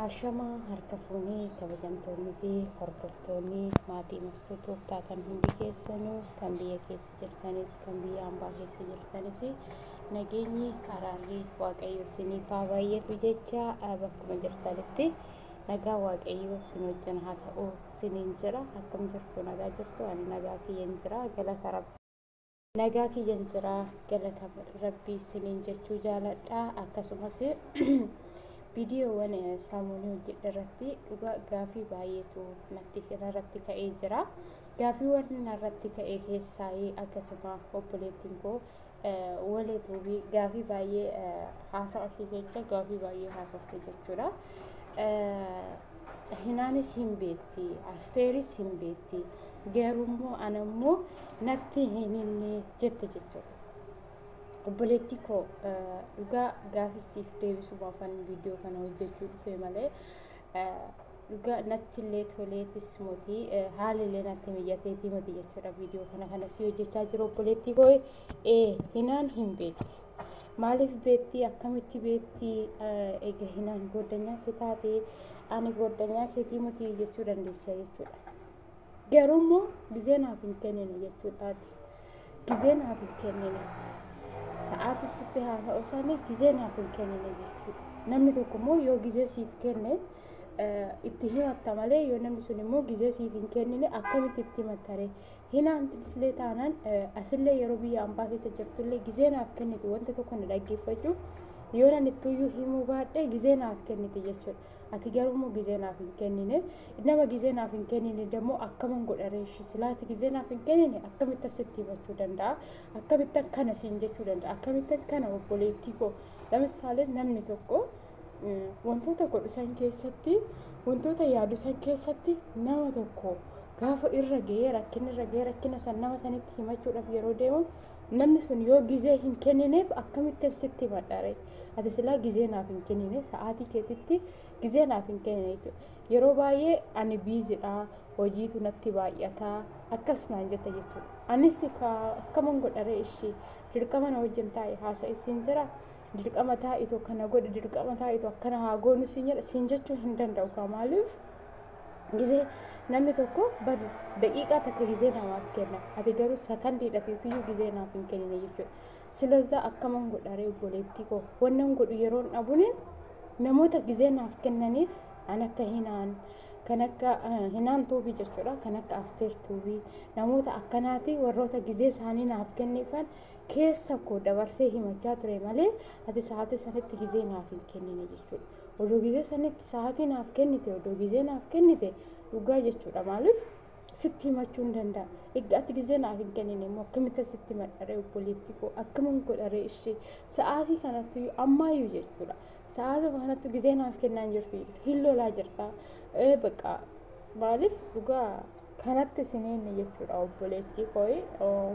Ashamaa harka fuunee kabajamtoonni fi hordoftoonni maatii murtuu tooftaa kan hundi keessanuu kan biyya keessa jirtanis kan biyya ambaa keessa jirtanis nageenyi araarri waaqayyo isiniif haa baay'atu jecha bakkuma jirtanitti nagaa waaqayyo isin wajjin haa ta'u isiniin jira akkam jirtu nagaa jirtu ani nagaa kiyyan jira galata rabbi. Nagaa kiyyan jira galata rabbii isiniin jechuu jaaladha akkasumas viidiyoowwan saamuunii hojjedhe irratti dhugaa gaafii baay'eetu natti irratti ka'ee jira gaafiiwwan narratti ka'e keessaa akkasuma obboleettiin koo waleetuufi gaafii baay'ee haasa'a ishee jecha gaafii baay'ee haasofte jechuudha. Hinaanis hin beekti, asteeris hin beekti. Garummoo anammoo natti hin himne jette jechuudha. Obboleettii koo dhugaa gaafissiif deebisumaafan viidiyoo kana hojjechuu dhufe malee dhugaa natti illee toleetis mootii haala illee natti mijjateetii mati jechuudha viidiyoo kana kana si hojjechaa jiru obboleettii koo ee hinaan hin beekti. Maaliif beekti akkamitti beekti egaa hinaan goddanyaa kee taate ani goddanyaa keetii miti jechuu dandeessa jechuudha. Garuu immoo gizee naaf hin kennine jechuudhaati. Gizee naaf hin kennine. Sa'aatiin sitti haa ta'u sani gizee naaf hin kennine jechuudha. Namni tokko immoo yoo gizee siif kenne itti himatta malee yoo namni sun immoo gizee siif hin kennine akkamitti itti himatta ree? Hinaantisillee taanaan asillee yeroo biyya ambaa keessa jirtullee gizee naaf kennite wanta tokko na dhaggeeffachuuf yoo nan ittuyyuu himuu baadhee gizee naaf kennite jechuudha. Ati garuu immoo gizee naaf hin kennine. Nama gizee naaf hin kennine dammoo akkaman godha reeshi silaa ati gizee naaf hin kennine akkamittan sitti himachuu danda'a? Akkamittan kana siin jechuu danda'a? Akkamittan kana obboleettii koo? Lamisaalee namni tokko wantoota godhu san keessatti wantoota yaadu san keessatti nama tokko gaafa irra ga'ee rakkina irra ga'ee rakkina san nama sanitti himachuudhaaf yeroo deemu namni sun yoo gizee hin kennineef akkamittan sitti himadha ree? ati silaa gizee naaf hin kennine sa'aatii keetitti gizee naaf hin kennine jechuudha yeroo baay'ee ani biizidha hojiitu natti baay'ata akkas naan jetta jechuudha anis akkaman godharee ishii dirqama na wajjin taa'e haasa'e siin jira dirqama taa'itu akkana godhe dirqama taa'itu akkana haa goonu siin jedha siin jechuu hin danda'u kaa maaliif gizee namni tokko bar daqiiqaa takka gizee namaaf kenna ati garuu sakandiidhaaf yookiyyuu gizee naaf hin kennine jechuudha Silazaa akkaman godharee obboleettii koo wannan godhu yeroon dhabunin namoota gizee naaf kennaniif an akka hinaan kan akka hinaan tuubii jechuudha kan akka asteer tuubii namoota akkanaati warroota gizee isaanii naaf kenniifan keessa koo dabarsee himachaa ture malee ati sa'aatii sanitti gizee naaf hin kennine jechuudha odoo gizee sanitti sa'aatii naaf kennite odoo gizee naaf kennite dhugaa jechuudha maaliif sitti himachuu hin danda'a. Egaa ati gizee naaf hin kennine immoo akkamitti sitti madharee obboleettii koo akkaman godharee ishee sa'aatii kanatti ammaayyuu jechuudha. Sa'aatii kanatti gizee naaf kennaa hin jirtu hin lolaa jirta. Bakka maaliif dhugaa kanatti siniinni jechuudha obboleettii koo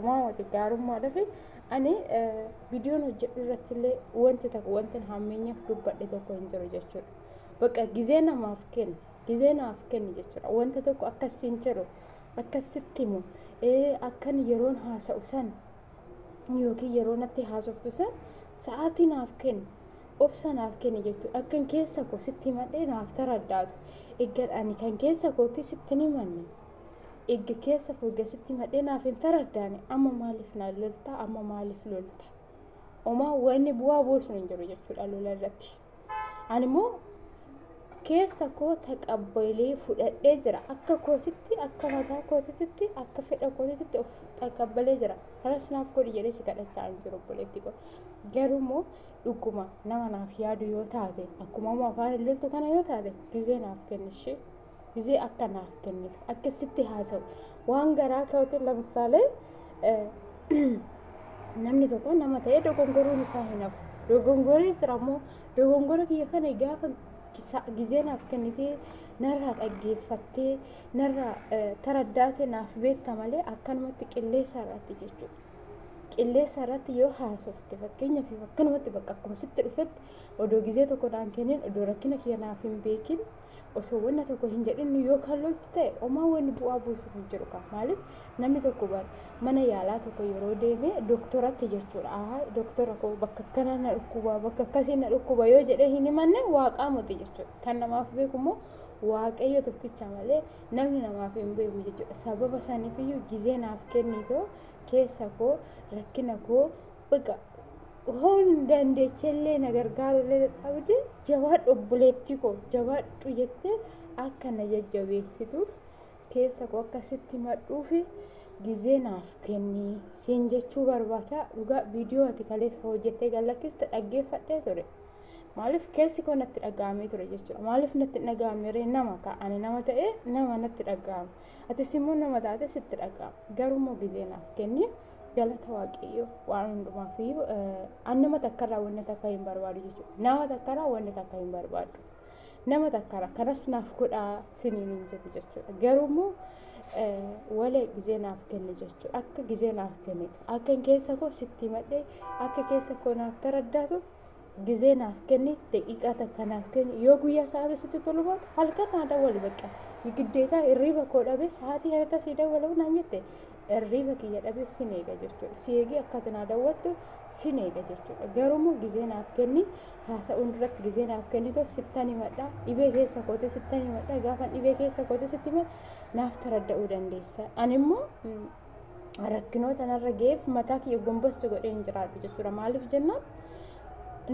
maamati gaarummaa dhafe ani viidiyoon hojjedhu irratti illee wanti tokko wanti hammeenyaaf dubbadhe tokko hin jiru jechuudha. Bakka gizee namaaf kenna. gizee naaf kenni jechuudha wanta tokko akkas siin jedhu akkas sitti himu ee akkan yeroon haasa'u san yookiin yeroo natti haasoftu san sa'aatii naaf kenni obsa naaf kenni jechuudha akkan keessa koo sitti himadhee naaf taraddaatu eeggan ani kan keessa kootti sitti hin himanne eegga keessa koo eegga sitti himadhee naaf hin taraddaane amma maaliif na lolta amma maaliif lolta omaa wanni bu'aa buusu hin jiru jechuudha lola irratti. ani immoo keessa koo taqabbalee fudhadhee jira akka kootitti akka mataa kootitti akka fedha kootitti of taqabbalee jira kanas naaf godhi jedhee si kadhachaa hin jiru obboleetti koo garuu immoo dhuguma nama naaf yaadu yoo taate akkuma amma afaan ililtu kana yoo taate gizee naaf kennishee Gizee akka naaf kennitu akka sitti haasa'u waan garaa ka'uutiin lamsaalee namni tokko nama ta'ee dogongoruun isaa hin hafu. Dogongoree jira immoo dogongora kiyya kana gaafa gizee naaf kennitee narraa dhaggeeffattee narraa taraddaatee naaf beekta malee akkanumatti qilleessa irratti jechuudha. Qilleessa irratti yoo haasofte fakkeenyaaf akkanumatti bakka akkuma sitti dhufetti odoo gizee tokko naan kennin odoo rakkina kiyya naaf hin beekin osoo wanna tokko hin jedhin nu yoo kallooftu ta'e omaa wanni bu'aa buusu hin jiru qaba maaliif namni tokko bar mana yaalaa tokko yeroo deeme doktoratti jechuudha aha doktora koo bakka akkana na dhukkuba bakka akkasii na dhukkuba yoo jedhee hin himanne waaqaa moti jechuudha kan namaaf beeku immoo waaqayyo tokkicha malee namni namaaf hin beeku jechuudha sababa saniifiyyuu gizee naaf kennitoo keessa koo rakkina koo Baqa hoon dandeechellee na gargaarullee dadhabde jabaadhu obboleettii koo jabaadhu jettee akka na jajjabeessituuf keessa koo akka sitti madhuufi gizee naaf kenni siin jechuu barbaada dhugaa viidiyoo ati kaleessa hojjettee gallakkiste dhaggeeffadhee ture maaliif keessi koo natti dhaga'amee ture jechuudha maaliif natti hin dhaga'amne ree nama ta'a ani nama ta'ee nama natti dhaga'ama Atis immoo nama taate sitti dhaga'ama. Garuu immoo gizee naaf kenni galata waaqayyo waan hundumaaf iyyuu an nama takkarraa wanni takka hin barbaadu jechuudha. Nama takkarraa wanni takka hin barbaadu. Nama takkarraa kanas naaf godhaa siniin hin jedhu jechuudha. Garuu immoo walee gizee naaf kenni jechuudha. Akka gizee naaf kennitu akka keessa koo sitti himadhee akka keessa koo naaf taraddaatu Gizee naaf kenni, daqiiqaa takka naaf kenni. Yoo guyyaa sa'aatii sitti tolu baate halkan naa dawwali bakka. Giddeetaa hirriiba koo dhabee sa'aatii kanatti sii dawwalamu naan jette hirriiba kiyya dhabee sin eega jechuudha. Si eegee akka ati naa dawwattu sin eega jechuudha. Garuummoo gizee naaf kenni haasa'uun duratti gizee naaf kennitoo sittan himadha. Dhibee keessa kootee sittan himadha. Gaafan dhibee keessa kootee sitti himadha naaf taradda'uu dandeessa. Animmoo rakkinoota narra ga'eef mataa kiyya gombossu godhee hin jiraadhu jechuudha. Maaliif jennaan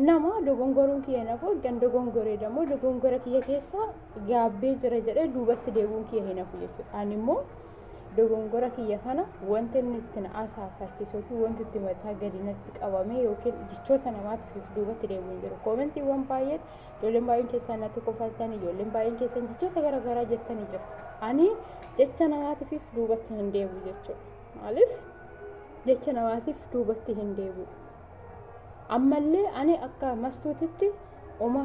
nama dogongoruun kiyya hin hafu kan dogongoree immoo dogongora kiyya keessa gaabbee jira jedhee duubatti deebi'uun kiyya hin hafu jechuudha. Ani immoo dogongora kiyya kana wanti inni itti na asaafarsiisu yookiin wanti itti mataa gadi natti qabame yookiin jechoota namaatiif duubatti deebi'uun jiru. Koomentiiwwan baay'een Ijoolleen baay'een keessan natti kofaltan, ijoolleen baay'een keessan jechoota garaagaraa jettanii jirtu. Ani jecha namaatiif duubatti hin deebi'u jechuudha. Maaliif? Jecha namaatiif duubatti hin deebi'u. Ammallee ani akka mastuutitti uma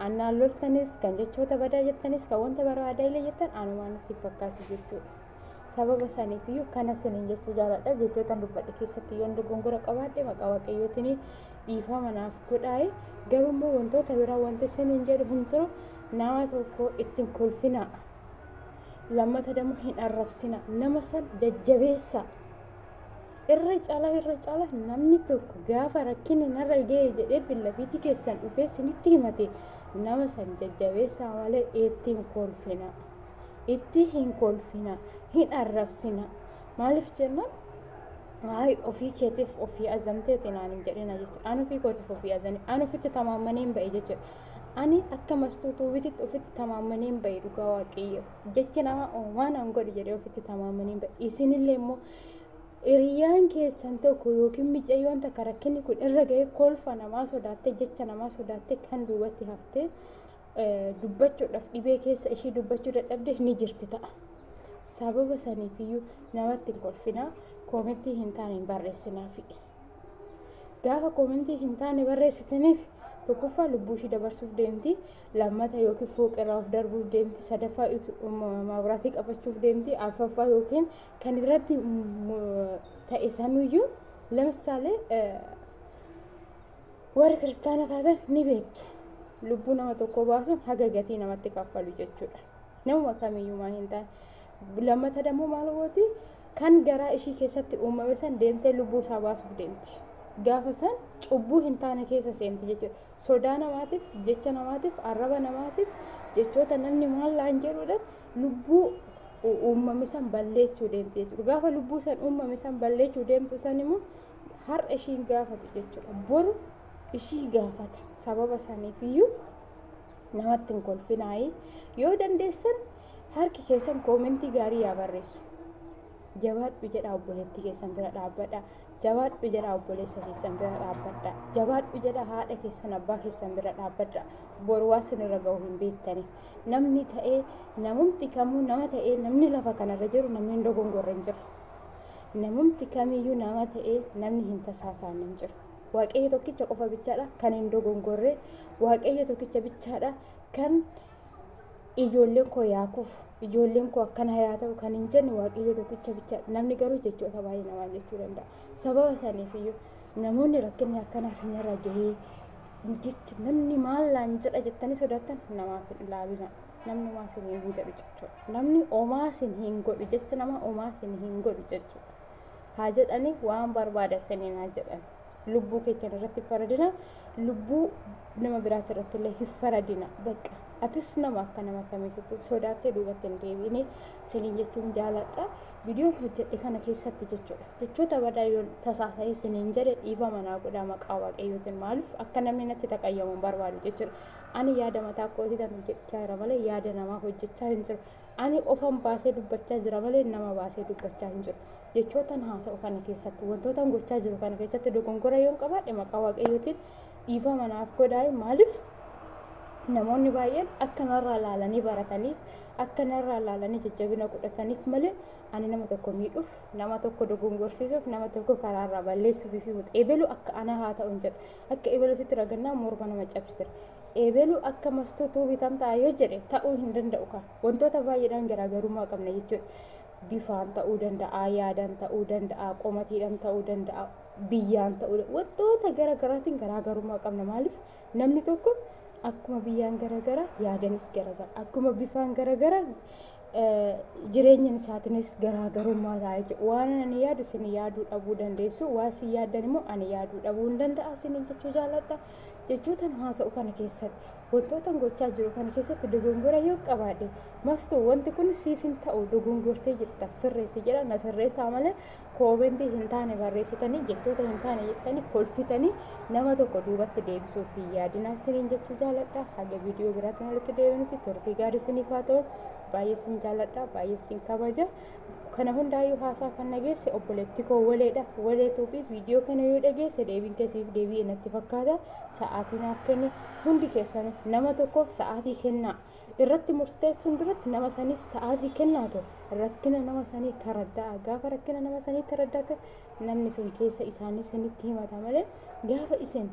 annaan loltanis kan jechoota badaa jettanis kan wanta barbaadaa illee jettan anumaan natti fakkaatu jechuudha. sababa saniif iyyuu kana siniin jechuu jaaladha jechoota dubbadhe keessatti yoon dogongora qabaadhe maqaa waaqayyootiin dhiifama naaf godhaayi garuu immoo wantoota biraa wanti siniin jedhu hin jiru nama tokko ittiin kolfinaa lammata dammoo hin arrabsina nama san jajjabeessa irra cala irra cala namni tokko gaafa rakkinni narra ga'e jedhee fillafiitii keessan dhufee sinitti himate nama san jajjabeessaa malee ittiin kolfina. itti hin kolfina hin arrabsina maaliif jennaan Ay, ofii keetiif ofii azanteeti naan hin jedhina jechuudha. An ofii kootiif ofii azane. An ofitti tamaammanee hin ba'e jechuudha. Ani akka mastuutuu wititti ofitti tamaammanee hin ba'e dhugaa waaqayyo. Jechi namaa "Oo, waan an godhu jedhee ofitti tamaammanee hin ba'e. Isinillee immoo hiriyyaan keessan tokko yookiin micayyoon takka rakkinni kun irra ga'ee kolfa namaa sodaattee jecha namaa sodaattee kan duubatti haftee dubbachuudhaaf dhibee keessa ishii dubbachuu dadhabde ni jirti ta'a. Sababa saniif iyyuu namatti hin kolfinaa koomentii hin taane hin barreessinaafi. Gaafa koomentii hin taane barreessitaniif tokkoffaa lubbuu ishii dabarsuuf deemti lammata yookiin fooqirraa of darbuuf deemti sadaffaa maabiraatii qabachuuf deemti arfaffaa yookiin kan irratti ta'e sanuyyuu lamsaalee Warri kiristaana taatan ni beektu. Lubbuu nama tokkoo baasuun haga gatii namatti kaffalu jechuudha. Namuma kamiyyumaa hin taane. Lammata dammoo maal gooti? Kan garaa ishii keessatti uumame san deemtee lubbuu isaa baasuuf deemti. Gaafa san cubbuu hin taane keessa seenti jechuudha. Sodaa namaatiif, jecha namaatiif, arraba namaatiif, jechoota namni maal laan jedhuudhaan lubbuu uumame san balleessuu deemti jechuudha. Gaafa lubbuu san uumame san balleessuu deemtu san immoo har'a ishiin gaafatu jechuudha boru ishii gaafata sababa saniif iyyuu namatti hin kolfinaayii yoo dandeessan harki keessan koomentii gaarii yaa barreessu jabaadhu jedha obboleettii keessan bira dhaabbadha jabaadhu jedha obboleessa keessan bira dhaabbadha jabaadhu jedha haadha keessan abbaa keessan bira dhaabbadha boru waa sinirra ga'u hin beektani namni ta'ee namumti kamuu nama ta'ee namni lafa kanarra jiru namni hin dogongorre hin jiru Namumti kamiyyuu nama ta'ee namni hin tasaasaan hin jiru. Waaqayyo tokkicha qofa bichaadha kan hin dogongorre. Waaqayyo tokkicha bichaadha kan ijoolleen koo yaa kufu ijoolleen koo akkana yaa ta'u kan hin jenne waaqayyo tokkicha bicha namni garuu jechoota baay'ee namaa jechuu danda'a sababa saniif iyyuu namoonni rakkinni akkana isinirra gahee jecha namni maal naan jedha jettanii sodaattan namaaf hin ilaalina. namni homaa sin hin hin jedhu jechuudha. Namni homaa sin hin godhu jecha nama homaa sin hin godhu jechuudha. Haa jedhanii waan barbaada saniin haa jedhan. Lubbuu keessan irratti hin faradina, lubbuu nama biraati irratti illee hin faradina. Bakka atis nama akka nama kamiitu sodaattee duubatti hin deebiine siniin jechuun jaaladha. Viidiyoon hojjedhe kana keessatti jechuudha. Jechoota badaa yoon tasaasa'ee siniin jedhe dhiifama naa godhaa maqaa waaqayyootiin maaliif akka namni natti taqayyamu hin barbaadu jechuudha. Ani yaada mataa kootiitan hojjechaa jira malee yaada namaa hojjechaa hin jiru. Ani ofan baasee dubbachaa jira malee nama baasee dubbachaa hin jiru. Jechootan haasa'u kana keessatti wantootan gochaa jiru kana keessatti dogongora yoon qabaadhe maqaa waaqayyootiin dhiifama naaf godhaa maaliif namoonni baay'een akka narraa laalanii barataniif akka narraa laalanii jajjabina godhataniif malee ani nama tokko miidhuuf nama tokko dogongorsiisuuf nama tokko karaarraa balleessuuf fi eebelu akka anaa haa ta'u hin jedhu Akka ebeluutitti ragannaa morma nama cabsitira. Ebelu akka mastuu tuu bitan ta'a yoo jedhe ta'uu hin danda'u kan. Wantoota baay'eedhaan garaagarummaa qabna jechuudha. Bifaan ta'uu danda'a, yaadaan ta'uu danda'a, qomatiidhaan ta'uu danda'a, biyyaan ta'uu danda'a. Wantoota garaagaraatiin garaagarummaa qabna. Maaliif namni tokko akkuma biyyaan garaagara yaadanis garaagara akkuma bifaan garaagara jireenya isaatiinis garaagarummaa ta'a jechuudha. Waan ani yaadu isin yaaduu dhabuu dandeessu, waan isin yaaddan immoo ani yaaduu dhabuu hin danda'a isin jechuu jaalladha. Jechootan haasa'u kana keessatti, wantootan gochaa jiru kana keessatti dogongora yoo qabaadhe, mastu wanti kun siif hin ta'u dogongortee jirta sirreessi jedha na sirreessaa malee koomentii hin taane barreessitanii jechoota hin taane jettanii kolfitanii nama tokko duubatti deebisuuf hin yaadinaa isiniin jechuu jaaladha haga viidiyoo biraatiin walitti deebinuti turtii gaarii isiniif haa ta'u baay'ee isin jaaladha baay'ee isin kabaja kana hundaayyuu haasaa kan dhageesse obboleetti koo waleedha waleetuu fi viidiyoo kana yoo dhageesse deebiin keessiif deebi'e natti fakkaata sa'aatii naaf kenne hundi keessan nama tokkoof sa'aatii kennaa irratti murteessuun duratti nama saniif sa'aatii kennaatu rakkina nama sanii taradda'a gaafa rakkina nama sanii taraddate namni sun keessa isaanii sanitti himata malee gaafa isin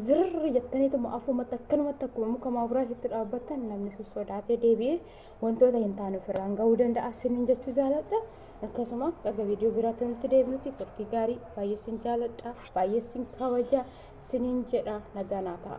zirri jettaniituma afumatti akkanumatti akkuma muka maabiraatitti dhaabbattan namni sun sodaatee deebi'ee wantoota hin taane ofirraan ga'uu danda'a sinin jechuu jaaladha akkasuma dhaga viidiyoo biraatti nutti deebinutti turtii gaarii baay'ee sin jaaladha baay'ee sin kabaja sinin jedha nagaa naa ta'a.